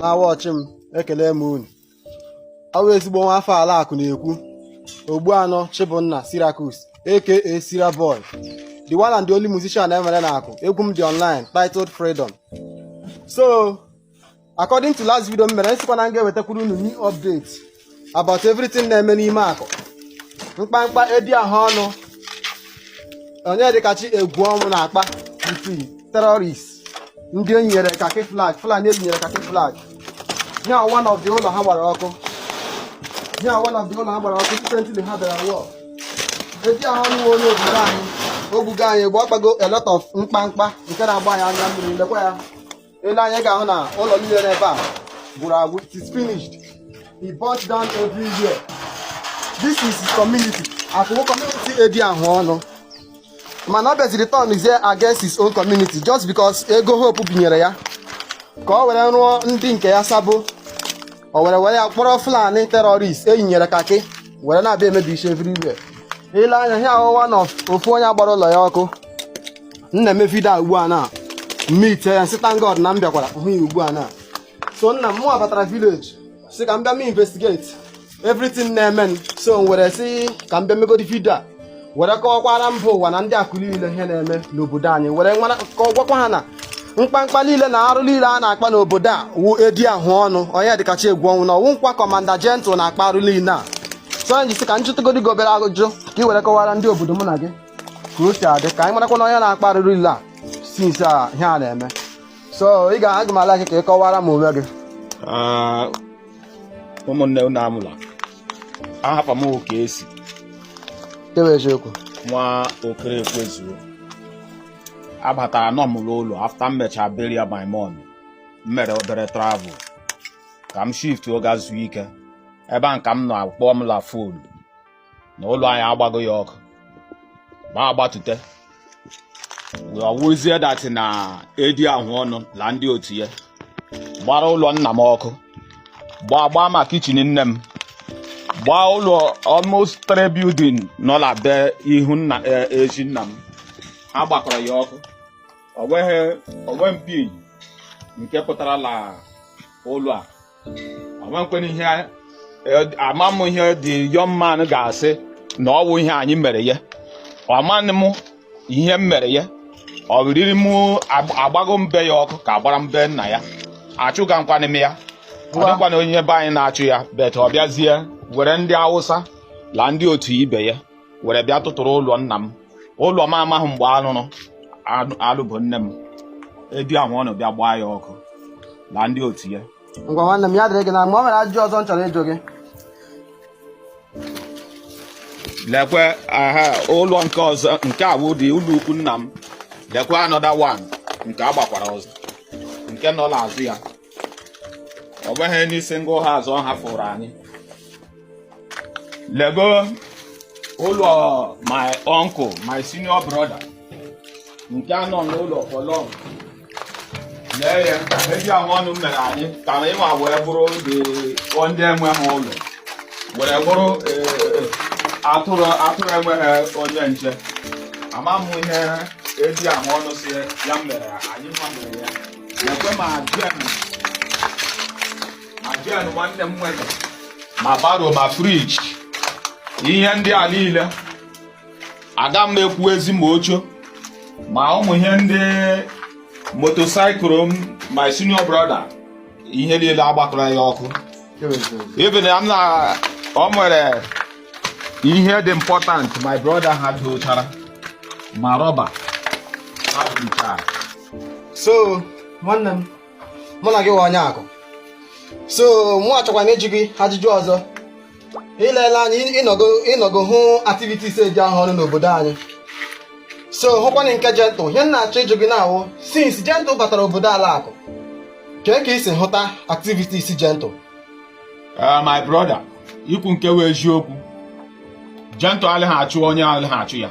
na-awatch m ekele m unu ọ wụ ezigbo nwa afọ ala akụ na-ekwu ogbuanọ chibụnna cyriacus aka sira boy the one and the only musician e nwere na akụ egwu m dị online titled freedom so according to last video m mere m sịkwa na m ga-ewetakwuru unu new update about everything na-eme n'ime akụ mkpamkpa edi ahụ ọnụ onyedikachi egwuọnwụ na-akpa with terrorist ndị e nyere kakị flag fulani e nyere kakị flag ihe a wụ one of the ụlọ ha gbara ọkụ ihe a wụ one of the ụlọ ha gbara ọkụ recently ha bịara war edi ahụ ọnụ onye obodo anyị o gbugo anyị gba ọ kpago a lot of mkpamkpa nke na-agba anyị anya mmiri lekwa ya ile anya ị ga-ahụ na ụlọ niile n'ebe a gwụrụ agwụ it is finished he burnt down everywhere this is his community akụ community edi ahụ ọnụ mana ọ bịaziri turnzie against his own community just because ego hope binyere ya ka o were rụọ ndị nke ya sabo o were were ya kpọrọ fulani terrorist e yinyere kakị were na-abịa emebisi everywhere ile anya ihe a wụ one of ofu onye a gbara ụlọ ya ọkụ m na-eme video a ugbu a na m meet ya m sị thank God na m bịakwara hụ ya ugbu a na so nna m mụwa batara village sị ka m bịa m investigate everything na-emenụ so m were sị ka m bịa megodi video a were kọwakwara mba ụwa na ndị akụ niile ihe na-eme n'obodo anyị were gwakwa ha na mkpamkpa niile na arụ niile a na-akpa n'obodo a wu edi ahụ ọnụ onyedikachi egwuọnwụ na ọ wụnịkwa commander gentle na-akpa arụ niile a so m ji sị ka m jụtụgodi gị obere ajụjụ ka ị were kọwara ndị obodo mụ na gị ka o si adị ka anyị marakwa na onye na-akpa arụrụ niile a since ihe a na-eme so ị ga aga m allow gị ka ị kọwara m onwe gị ah, ụmụnne unu anwụla ahapa m oke esi ewe eziokwu nwa okere ekwezuo abataranụ m n'ụlọ after m mechara burial my mom m mere obere travel ka m shiftuo gaa zuo ike ebe a ka m nọ a kpọọ m la phone na ụlọ anyị agbago ya ọkụ mụ agbatute ọ wụzie that na edi ahụ ọnụ na ndị otu ya gbara ụlọ nna m ọkụ gbaa gbaa ma kitchen nne m gbaa ụlọ almost three building nọ na be ihu nna e, ezi nna m ha gbakọrọ ya ọkụ o nweghị onwe mpi nke pụtara la ụlọ a o nwekwanị ihe ama m ihe the young man ga-asị na ọ wụ ihe anyị mere ya amanị m ihe m mere ya ọ riri m agbago m be ya ọkụ ka agbara m be nna ya achụgakwanị m ya ọ dịkwana onye be anyị na-achụ ya but ọ bịazie were ndị awụsa la ndị otu ibe ya were bịa tụtụrụ ụlọ nna m ụlọ m amaghị mgbe alụrụ alụ bụ nne m edi ahụ ọnụ bịa gbaa ya ọkụ na ndị otu ya ngwa nwanne m ya dịrị gị na mma o nwere ajụjụ ọzọ m chọrọ ịjụ gị lekwe ah ụlọ nke ọzọ nke a wụdị ụlọ ukwu nna m lekwe another one nke a gbakwara ọzọ nke nọ n'azụ ya ọ bụghị n'isi ngụ ha azụ ha fụrụ anyị lego ụlọ my uncle my senior brother nke a nọ n'ụlọ for long lee ihe edi ahụ ọnụ mere anyị ka anyịwa wee bụrụ ndị enweghị ụlọ were bụrụ e, e, atụrụ atụrụ enweghị onye nche ama m ihe edi ahụ ọnụ si ya mere anyị ma mere ya lekwe ma jen nwanne m nwere ma baro ma friji ihe ndị a niile aga m ekwu ezi ma oche ma ụmụ ihe ndị motorcycle m my senior brother ihe niile a gbakọrọ ya ọkụ even ama m na o nwere ihe dị important my brother ha dochara ma rọba ha so nwanne m mụ na gị wụ onye akụ so mụ achọkwa m ịjụ gị ajụjụ ọzọ i leela anyị ị nọgo hụ activities edi ahụ ọnụ n'obodo anyị so hụkwana nke Gentle ihe m na-achọ ịjụ gị na-awụ since Gentle batara obodo ala akụ kee ka i si hụta activities Gentle ah, my brother i kwu nke wụ eziokwu Gentle alịghị achụ onye alịghị achụ ya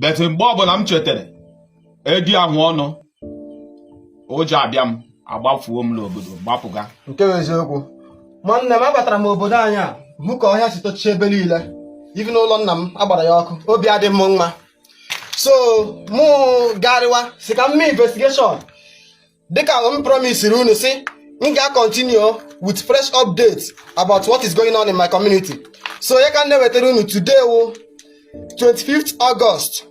but mgbe ọbụla m chetara edi ahụ ọnụ ụjọ abịa m agbafuo m n'obodo gbapụga nke bụ eziokwu nwanne m abatara m obodo anyị a hụ ka ọhịa si tochie ebe niile even ụlọ nna m a gbara ya ọkụ obi adị m mma so mụ garịwa sị ka m mee investigation dịka m promisiri unu sị m ga-continue with fresh updates about what is going on in my community so ọ ya ka m na-ewetara unu today wụ 25th August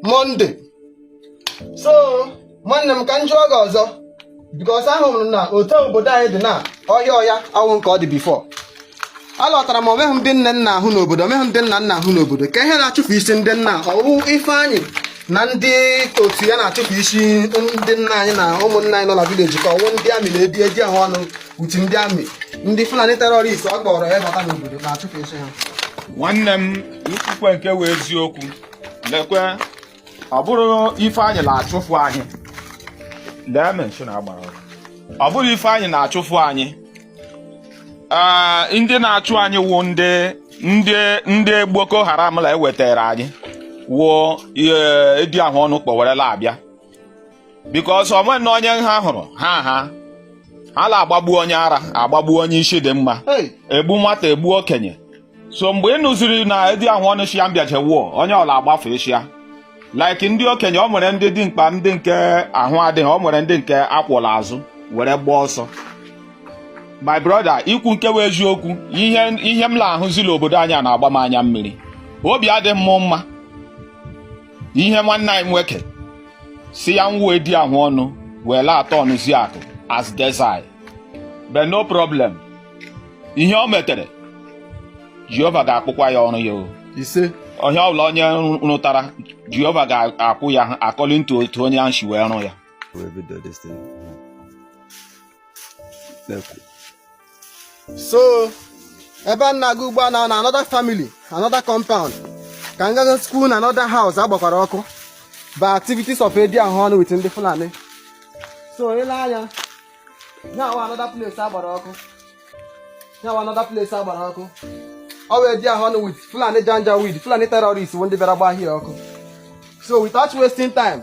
Monday so nwanne m ka m jụọ gị ọzọ because ahụrụ m na otu obodo anyị dị na ọhịa ọhịa awụ nke ọ dị before alọtara m o nweghị ndị nne m na-ahụ n'obodo o nweghị ndị nna m na-ahụ n'obodo kee ihe na-achụpụsị ndị nna ọ wụ Ifeanyị na ndị otu ya na-achụpụsị ndị nna anyị na ụmụnna anyị nọ na village ka ọ wụ ndị army na edi edi ahụ ọnụ uti ndị army ndị fulani terrorist ọ kpọrọ ya bata n'obodo na-achụpụsị ha nwanne m i kwukwe nke wụ eziokwu lekwe ọ bụrụ Ifeanyị na-achụfu anyị lee mansion agbara ọkụ. ọ bụrụ Ifeanyị na-achụfu anyị ee ndị na-achụ anyị wụ ndị ndị ndị Boko Haram la ewetara anyị wụ edi ahụ ọnụ kpọwerela abịa because onwe na onye ha hụrụ ha ha ha na-agbagbu onye ara agbagbu onye isi dị mma Hey! egbu nwata egbu okenye so mgbe ị nụziri na edi ahụ ọnụ shi ya m bịaje wo onye ọwụla agbafụ ishi ya like ndị okenye ọ nwere ndị dị mkpa ndị nke ahụ adịghị ọ nwere ndị nke a kwọ l'azụ were gbaa ọsọ my brother ikwu nke wụ eziokwu ihe ihe m na-ahụzi l'obodo anyị a na-agba m anya mmiri obi adịghị m mma ihe nwanne anyị nwoke sị ya wụ edi ahụ ọnụ were aturnụzi akụ as desert but no problem ihe o metere jehova ga-akwụkwa ya ọrụ ya o ise onye ọbụla onye rụtara jehova ga-akwụ ya according to otu onye ahụ si wee rụ ya so ebe m na-aga ugbu a na another family another compound ka m ga-egosi unu another house agbakwara ọkụ by activities of edi ahụ ọnụ with ndị Fulani so i lee anya here wụ another place agbara ọkụ here wụ another place agbara ọkụ ọ wụ edi ahụ ọnụ with Fulani Janjaweed Fulani terrorist bụ ndị bịara gbaa here ọkụ so without wasting time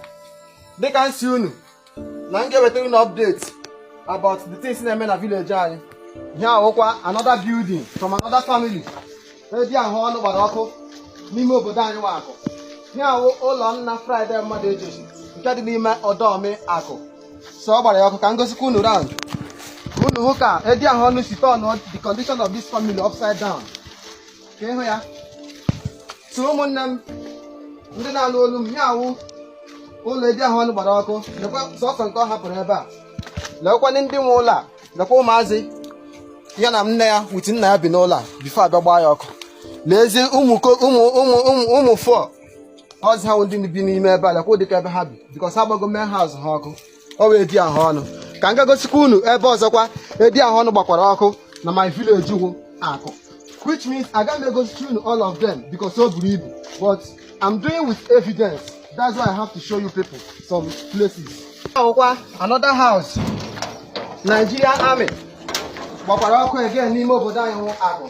dịka m si unu na m ga-ewetara unu update about the things na-eme na village anyị here wụkwa another building from another family edi ahụ ọnụ gbara ọkụ n'ime obodo anyị wụ akụ here wụ ụlọ nna Friday mmadụ ejosi nke dị n'ime ọdọmi akụ so ọ gbara ya ọkụ ka m gosikwa unu round unu hụ ka edi ahụ ọnụ si turn the condition of this family upside down ka ị hụ ya so ụmụnne m ndị na-alụ olu m here wụ ụlọ edi ahụ ọnụ gbara ọkụ lekwa sọsọ nke ọ hapụrụ ebe a lekwanị ndị nwe ụlọ a lekwa ụmụazị ya na nne ya with nna ya bi n'ụlọ a before abịa gbaa ya ọkụ lezie ụmụ ụmụ ụmụ ụmụ ụmụ fọ ọzi ha ndị bi n'ime ebe a lekwa dịka ebe ha bi because ha gbago main house ha ọkụ ọ wụ edi ahụ ọnụ ka m gaa gosikwa unu ebe ọzọkwa edi ahụ ọnụ gbakwara ọkụ na my village wụ akụ which means agaghị m egosi unu all of them because o buru ibu but I'm doing with evidence that's why I have to show you people some places here wụkwa another house Nigerian army gbakwara ọkụ again n'ime obodo anyị wụ akụ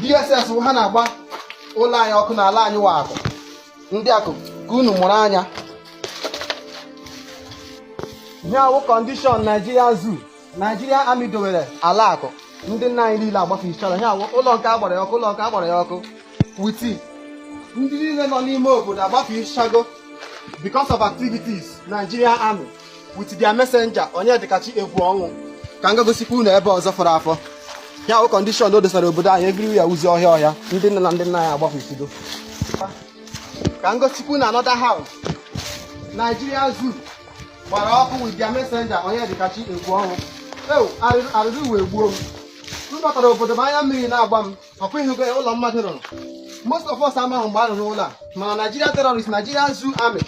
DSS wụ ha na-agba ụlọ anyị ọkụ na ala anyị wa Akụ ndị Akụ ka unu mụrụ anya ihe a wụ condition Nigeria Zoo Nigeria Army dowere ala Akụ ndị nna anyị niile agbafụchara ihe a wụ ụlọ nke a gbara ya ọkụ ụlọ nke a gbara ya ọkụ with ndị niile nọ n'ime obodo agbafụchago because of activities Nigeria Army with their messenger Onyedikachi egwu ọnwụ ka m ga gosikwa unu ebe ọzọ fọrọ afọ ihe a wụ condition o dosara obodo anyị everywhere wụzi ọhịa ọhịa ndị nne na ndị nna anyị agbapụsigo ka m gosikwa unu another house Nigeria zoo gbara ọkụ with their messenger Onyedikachi egwu ọnwụ ewu arịrị ụwa egbuo m m batara obodo m anya mmiri na-agba m ọkwa ị hụgo ya ụlọ mmadụ rụrụ most of us amaghị mgbe a rụrụ ụlọ a mana Nigeria terrorist Nigeria zoo army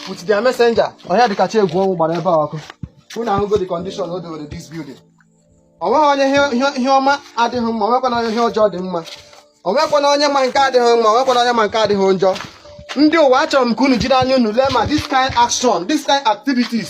with their messenger Onyedikachi egwu ọnwụ gbara ebe a ọkụ unu ahụgo the condition o dowere this building o nweghị onye ihe- ihe- ihe ọma adịghị mma onwekwana onye ihe ọjọọ dị mma onwekwana onye ma nke a dịghị mma onwekwana onye ma nke a dịghị njọ ndị ụwa achọrọ m ka unu jiri anya unu lee ma this kind action this kind activities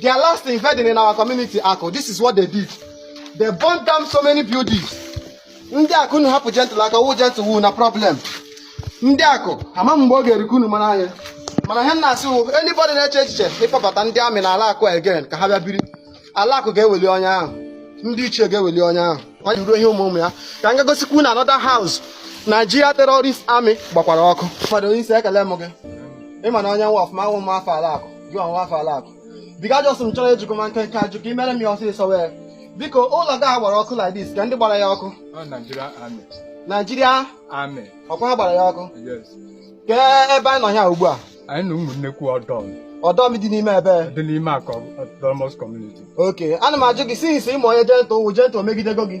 Their last invading in our community, Akụ, this is what they did. They burnt down so many buildings. Ndị Akụ unu hapụ Gentle aka wụ Gentle wụ na problem. Ndị Akụ ama mgbe ọ ga-erikwu unu mara anya. Mana ihe m na-asị wụ anybody na-eche echiche ịkpọbata ndị army na ala Akụ again ka ha bịa biri. Ala Akụ ga-eweli onye ahụ. Ndị ichie ga-eweli onye ahụ. Ọ jụrụ ihe ụmụ ụmụ ya. Ka m ga gosikwa unu another house Nigeria terrorist army gbakwara ọkụ. Fọdụ onye isi ekele m gị. Ị mara onye nwa ọfụma a wụ m nwa afọ ala Akụ. gị ọ nwa afọ ala Akụ biko ajụjụ m chọrọ ịjụ gị ma nkenke ajụjụ ka i mere m ya ọsịsọ wee biko ụlọ gị a gbara ọkụ like this kee ndị gbara ya ọkụ Ọ Nigeria Army. Nigeria Army. ọkwa ha gbara ya ọkụ Yes. kee ebe anyị nọ ya ugbu a Anyị nọ Ụmụnnekwu ọdọ ọdọ m dị n'ime ebe dị n'ime Akụ Autonomous Community. okay ana m ajụ gị since ị ma onye Gentle wụ Gentle emegidego gị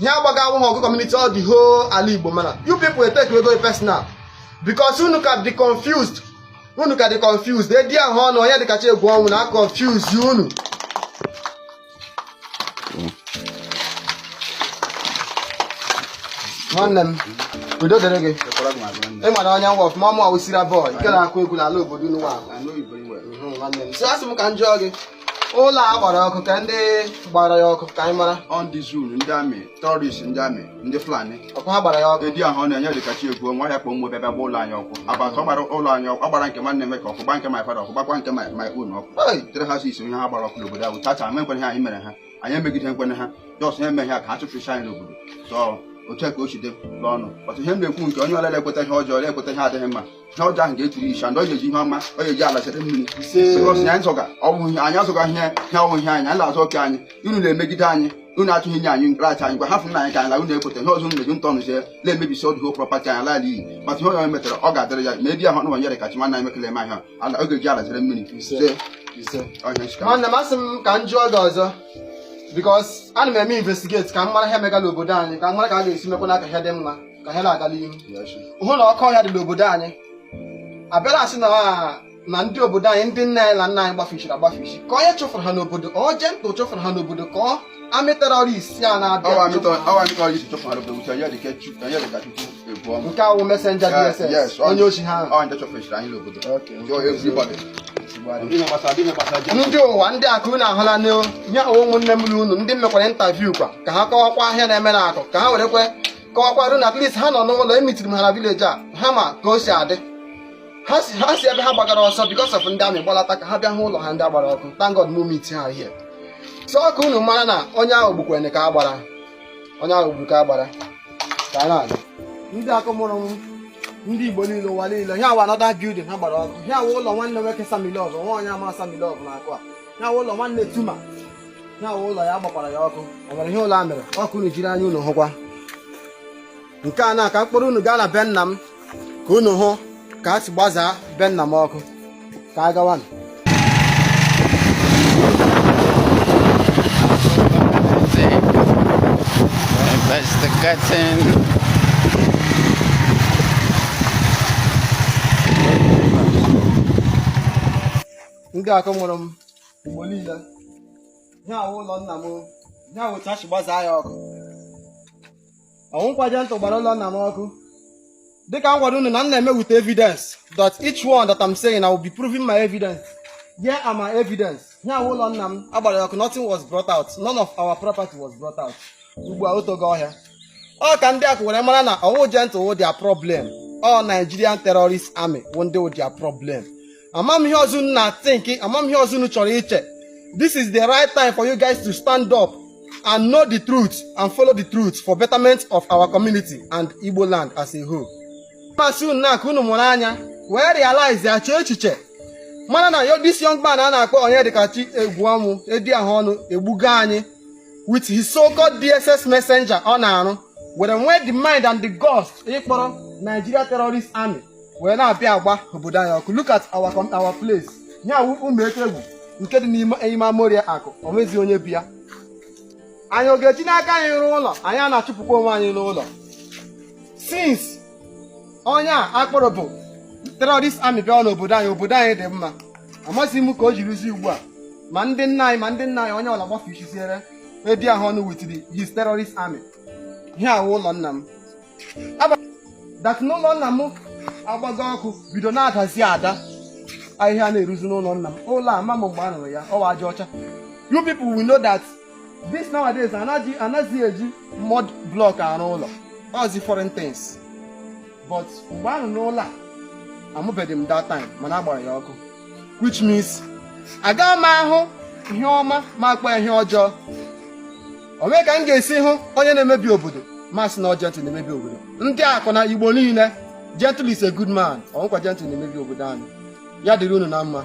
ihe a gbaga awụghị ọgụ community ọ the whole ala Igbo mana you people etakego personal because unu ka dị confused unu ka dị confused edi ahụ ọnụ Onyedikachi egwu ọnwụ na-aconfuse unu nwanne m udo dịrị gị ị mara onye nwa ọfụma ọ mụ ọwụsira boy nke na-akụ egwu n'ala obodo unu nwa nwanne m so asị m ka m jụọ gị ụlọ a gbara ọkụ kee ndị gbara ya ọkụ ka anyị mara ọ ndị zoo ndị army terrorist ndị army ndị Fulani ọkwa ha gbara ya ọkụ edi ahụ ọnụ Onyedikachi egwu ọnwụ ya kpọ mgbe bịa gba ụlọ anyị ọkụ abatụ ọ gbara ụlọ anyị ọkụ ọ gbara nke nwanne m nwoke ọkụ gba nke my father ọkụ gbakwa nke my my own ọkụ Hey! tere ha si isi ihe ha gbara ọkụ n'obodo ahụ tacha amaghịkwa ihe anyị mere ha anyị emegideghịkwanụ ha just ha emeghị ha ka ha chụpụcha anyị n'obodo so otu a ka o si dị naanị otu ihe m na-ekwu nke onye ọlala ekweta ihe ọjọọ ọla ekweta ihe adịghị mma ihe ọjọọ ahụ ga-etiri ishi and ọ ga-eji ihe ọma ọ ga-eji ala sere mmiri because anyị zọga ọ wụ ihe anyị azọga ihe ihe ọ wụ ihe anyị anyị na-azọ oke anyị unu na-emegide anyị unu achọghị inye anyị nkrachi anyị gwa hafụnụ anyị ka anyị la unu ekweta ihe ọzọ unu meji ntọnụ sie na-emebisi all the whole property anyị ala iyi mata ihe onye metara ọ ga-adịrị ya ma Eddy ahụ nụwa Onyedikachi nwanne anyị mekele eme ahịa ala ọ ga-eji ala sere mmiri Ise. se Ise. ọhịa nchika nwanne m asị m ka m jụọ gị ọzọ because ana m eme investigate ka m mara ihe mega la obodo anyị ka m mara ka a ga-esi mekwanụ ka ihe dị mma ka ihe na-aga n'ihu hụ na ọkụ ọhịa dị n'obodo anyị abịala asị na na ndị obodo anyị ndị nne anyị na nna anyị gbafichiri agbafichi ka onye chụfụrụ ha n'obodo ọ Gentle chụfụrụ ha n'obodo ka ọ army terrorist a na-abịa nke a wụ messenger DSS onye ochi ha ndị ụwa ndị Akụ unu ahụla nye ụmụnne m na unu ndị mekwara interview kwa ka ha kọwakwa ihe a na-eme na Akụ ka ha werekwa kọwakwara na at least ha nọ n'ụlọ emitiri m ha na village ha ma ka o si adị ha si ha si ebe ha gbagara ọsọ because of ndị army gbalata ka ha bịa hụ ụlọ ha ndị a gbara ọkụ thank God m meet ha here so ka unu mara na onye ahụ gbukwene ka agbara onye ahụ gburu ka agbara ka a na-aga ndị Akụ mụrụ m ndị Igbo niile ụwa niile ihe a wụ another building ha gbara ọkụ ihe a wụ ụlọ nwanne nwoke Sammy Love nwa onye a ma Sammy Love na Akụ a ihe a wụ ụlọ nwanne Tuma ihe a wụ ụlọ ya gbakwara ya ọkụ ọ nwere ihe ụlọ a mere ọ ka unu jiri anya unu hụkwa nke a na ka m kpọrọ unu gaa na be nna m ka unu hụ ka a si gbazaa be nna m ọkụ ka a gawanụ ndị Akụ mụrụ m Igbo niile ihe a wụ ụlọ nna m ihe a wụ otu ha si gbazaa ya ọkụ ọ wụkwa Gentle gbara ụlọ nna m ọkụ dịka m gwara unu na m na-eme with evidence that each one that I'm saying I will be proving my evidence here are my evidence ihe a wụ ụlọ nna m a gbara ya ọkụ nothing was brought out none of our property was brought out ugbu a otogo ọhịa ọ ka ndị Akụ were mara na ọ wụ Gentle wụ their problem ọ Nigerian terrorist army wụ ndị wụ their problem amam ihe ọzọ unu na-athink amam ihe ọzọ unu chọrọ iche this is the right time for you guys to stand up and know the truth and follow the truth for betterment of our community and Igbo land as a whole. Masị unu n'Akụ unu mụrụ anya wee realize ya chee echiche mara na ọ this young man a na-akpọ Onyedikachi Egwuọnwụ Eddy ahụ ọnụ egbugo anyị with his so-called DSS messenger ọ na-arụ were nwee the mind and the guts ịkpọrọ Nigeria Terrorist Army wee na-abịa agba obodo anyị ọkụ look at our com- our place ya wụ ụmụ eke egwu nke dị n'ime ime amoria akụ o nweghịzi onye bi ya anyị ọ ga-eji n'aka anyị rụọ ụlọ anyị a na-achụpụkwa onwe anyị n'ụlọ since onye a akpọrọ bụ terrorist army bịa n'obodo anyị obodo anyị dị mma amasịghị m ka o jirizi ugbu a ma ndị nne anyị ma ndị nna anyị onye ọla gbafe isiziere edi ahụ ọnụ with his terrorist army ihe a wụ ụlọ nna m that n'ụlọ nna m agbago ọkụ bido na-adazi ada ahịhịa na-eruzi n'ụlọ nna m ụlọ a ma m mgbe a rụrụ ya ọ wụ aja ọcha you people will know that this nowadays anaghịzi eji mud block arụ ụlọ ọzi foreign things but mgbe a rụrụ ụlọ a amụbeghị m that time mana a gbara ya ọkụ which means agaghị m ahụ ihe ọma m akpọ ihe ọjọọ o nweghị ka m ga-esi hụ onye na-emebi obodo m asị na ọ gentle na-emebi obodo ndị akụ na igbo niile gentle is a good man ọ wụghịkwa gentle na-emebi obodo anyị ya dịrị unu na mma